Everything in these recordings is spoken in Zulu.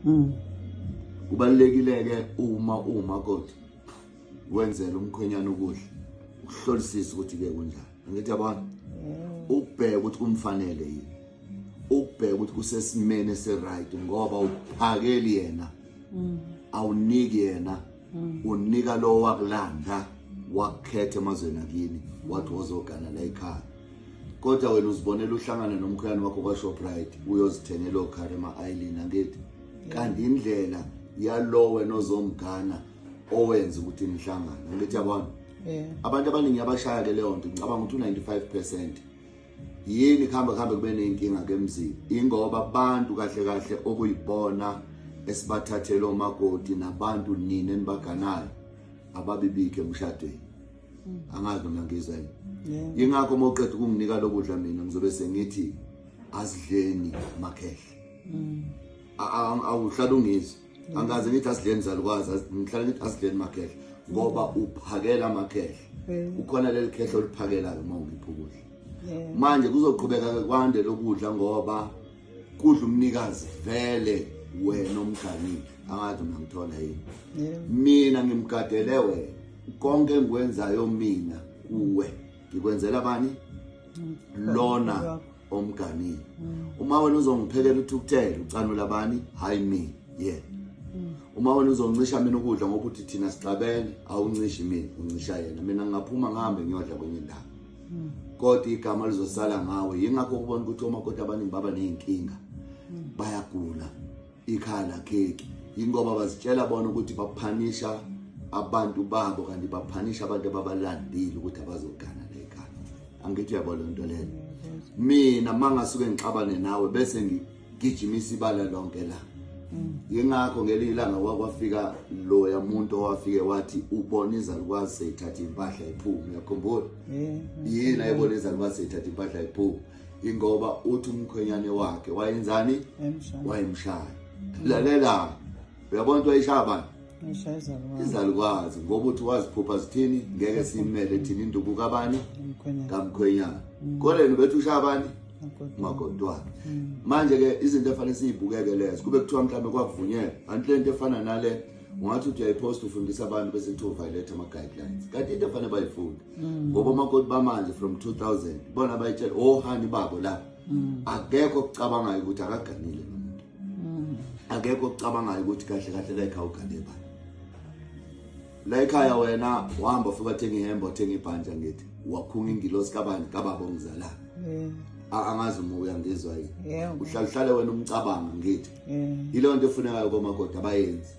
mm. kubalulekile-ke uma uwumakoti wenzela umkhwenyana ukudla uhlolisise ukuthi-ke kunjani angithi yabona ubheke ukuthi kumfanele yini ubheke ukuthi kusesimeni esiright ngoba uphakeli yena mm. awuniki yena mm. unika lo wakulanda wakukhetha emazweni akini wathi wozogana la ekhaya kodwa wena uzibonela uhlangana nomkhuyane wakho kwashoprite uyozithengela okhare ema-ailin angithi kanti indlela yalo wena ozomgana owenza ukuthi nihlangane angithi yabona abantu abaningi abashaya ke leyo nto ngicabanga ukuthi u-95 percent yini kuhamba kuhambe kube ney'nkinga ke mzini ingoba abantu kahle kahle okuyibona esibathathele omakoti nabantu nina enibaganayo ababibikhe emshadweni hmm. angazi noma ngizwa yini yingakho uma uqeda ukunginika lokudla mina ngizobe sengithi asidleni makhehle hmm. awuhlala ungizwa angaze ngithi asidleni zalukwazi ngihlale ngithi asidleni makhehla ngoba uphakela amakhehla ukhona leli khehla oliphakelayo uma ungiphi ukudla manje kuzoqhubeka kwande lokudla ngoba kudla umnikazi vele wena omganile angazi mina ngithola yini mina ngimgadele wena konke engikwenzayo mina kuwe ngikwenzela bani lona omganile mm. uma wena uzongiphekela uthukuthele ucanula bani hayi mina ye yeah. mm. uma wena uzoncisha mina ukudla ngoba uthi thina sixabene awuncishi mina uncisha yena mina ngingaphuma ngihambe ngiyodla kwenye indawo mm. kodwa igama lizosala ngawe yingakho ukubona ukuthi omakoti abaningi baba ney'nkinga mm. bayagula ikhala kheki yingoba bazitshela bona ukuthi baphanisha abantu babo kanti baphanisha abantu ababalandile ukuthi abazogana lekhaya angithi uyabo le nto leyo mina mangasuke ngixabane nawe bese ngigijimisa ibala lonke la yingakho ngelinye ilanga wakwafika loya muntu owafike wathi ubona izalukwazi seyithatha impahla iphume uyakhumbula yini ayibona izalukwazi seyithatha impahla iphume ingoba uthi umkhwenyane wakhe wayenzani wayemshaya lalela uyabona ukuthi wayishaya bani izalukwazi ngoba uthi waziphupha zithini ngeke simele thina induku kabani kamkhwenyana mm. koleni bethu ushaya bani magodwana mm. manje-ke izinto efanele siyibukeke lezo kube kuthiwa mhlawumbe kwakuvunyelwa anti le nto efana nale ungathi uthi uyayiphosta ufundisa abantu bese kuthiwa violate ama-guidelines kanti into efanele bayifunde mm. ngoba omakoti bamanje from 2000 bona bayitshela ohani oh, babo la mm. akekho okucabangayo ukuthi akaganile nomuntu mm. akekho okucabangayo ukuthi kahle kahle la ekhaya ugane bani la ekhaya wena uhamba ufika thenga ihembe othenga ibhanja ngithi wakhunga ingilosi kabani kababa ongizala angazi uma uyangizwa yini uhlala uhlale wena umcabanga ngithi yilonto efunekayo komakoti abayenzi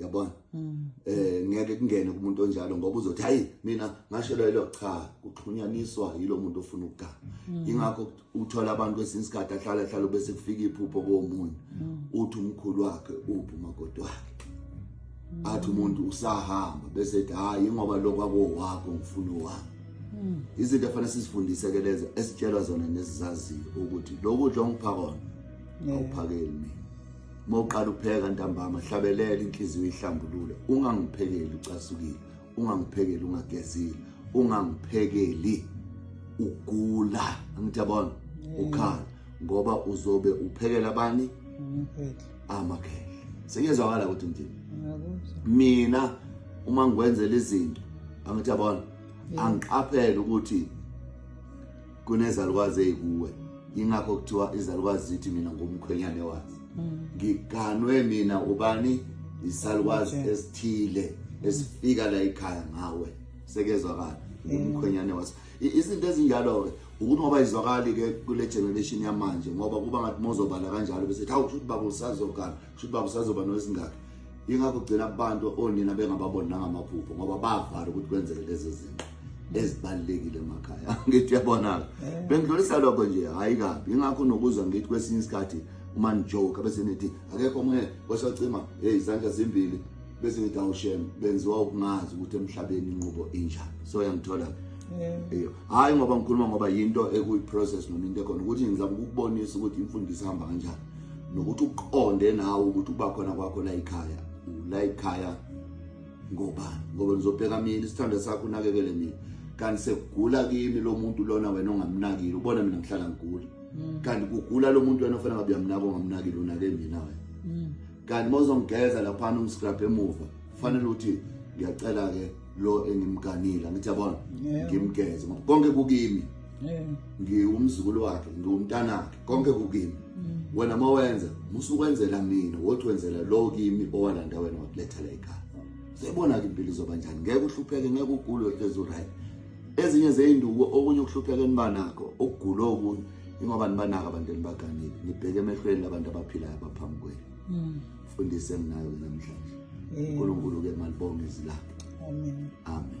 yabona mm. eh ngeke kungene kumuntu onjalo ngoba uzothi hayi mina ngashelelo cha kuxhunyaniswa yilo muntu ofuna ukugama mm. ingakho uthola abantu kwesinye isikhathi ahlala hlala bese kufika iphupho komunye mm. uthi umkhulu wakhe uphi umakoti wakhe athi umuntu usahamba bese ethi hayi ngoba lokwa kowakho ngifuna wami izinto efanele sizifundise ke lezo esitshelwa zona nesizaziyo ukuthi lokudla ongiphakona awuphakeli mina uma uqala upheka ntambama hlabelela inhliziyo ihlambulule ungangiphekeli ucasukile ungangiphekeli ungagezile ungangiphekeli ugula angithi yabona ukhala ngoba uzobe uphekela abani amakhehla sengiyezwakala ukuthi ngithini mina uma ngikwenzela izinto angithi yabona angiqaphele ukuthi kunezalukwazi ezikuwe ingakho kuthiwa izalukwazi zithi mina ngumkhwenyane wazi mm. ngiganwe mina ubani isalukwazi esithile esifika la ikhaya ngawe sekezwakala mm. umkhwenyane wazi izinto ezinjalo ke ukuthi ngoba izwakali ke kule generation yamanje ngoba kuba ngathi mozobala kanjalo bese hawu ukuthi baba usazokala kusho uba kusazoba noesingaki yingakho ugcina abantu onina bengababoni nangamaphupho ngoba bavala ukuthi kwenzeke lezo zinto ezibalulekile emakhaya ngithi uyabonaka eh. bengidlulisa lokho nje hhayi kabi yingakho nokuzwa ngithi kwesinye isikhathi uma nijoke bese nithi akekho omunye kwesacima heyi izandla zimbili bese ngithi awushem benziwa ukungazi ukuthi emhlabeni inqubo injani so yangithola eh. hhayi ngoba ngikhuluma ngoba yinto ekuyi-process noma into ekhona ukuthi ngizama ukukubonisa ukuthi imfundiso ihamba kanjani nokuthi uqonde nawe ukuthi uba khona kwakho la ekhaya la ekhaya ngobani ngoba ngizobheka mina isithando sakho unakekele mina kanti sekugula kimi lo muntu lona wena ongamnakile ubona mina ngihlala ngigula mm. kanti kugula lo muntu wena ofanele ngabe uyamnaka ongamnakile unake mina wena mm. kanti mozongigeza laphana ungiscrap emuva kufanele ukuthi ngiyacela-ke lo engimganile angithi yabona ngimgeze ngoba konke kukimi ngiwumzukulu wakhe ngiwumntanakhe konke kukimi mm. wena mawenza musukwenzela mina wothi wenzela lo kimi owalanda wena wakuletha la ekhaya siyibona ke impilo izoba njani ngeke uhlupheke ngeke ugule hlezi right ezinye zeinduku okunye ukuhlupheka enibanakho ukugula okunye ingoba nibanaka abantu enibaganile nibheke emehlweni labantu abaphilayo abaphambi kwenu mm. fundise ngayo namhlanje uNkulunkulu ke malibonge izilapho amen amen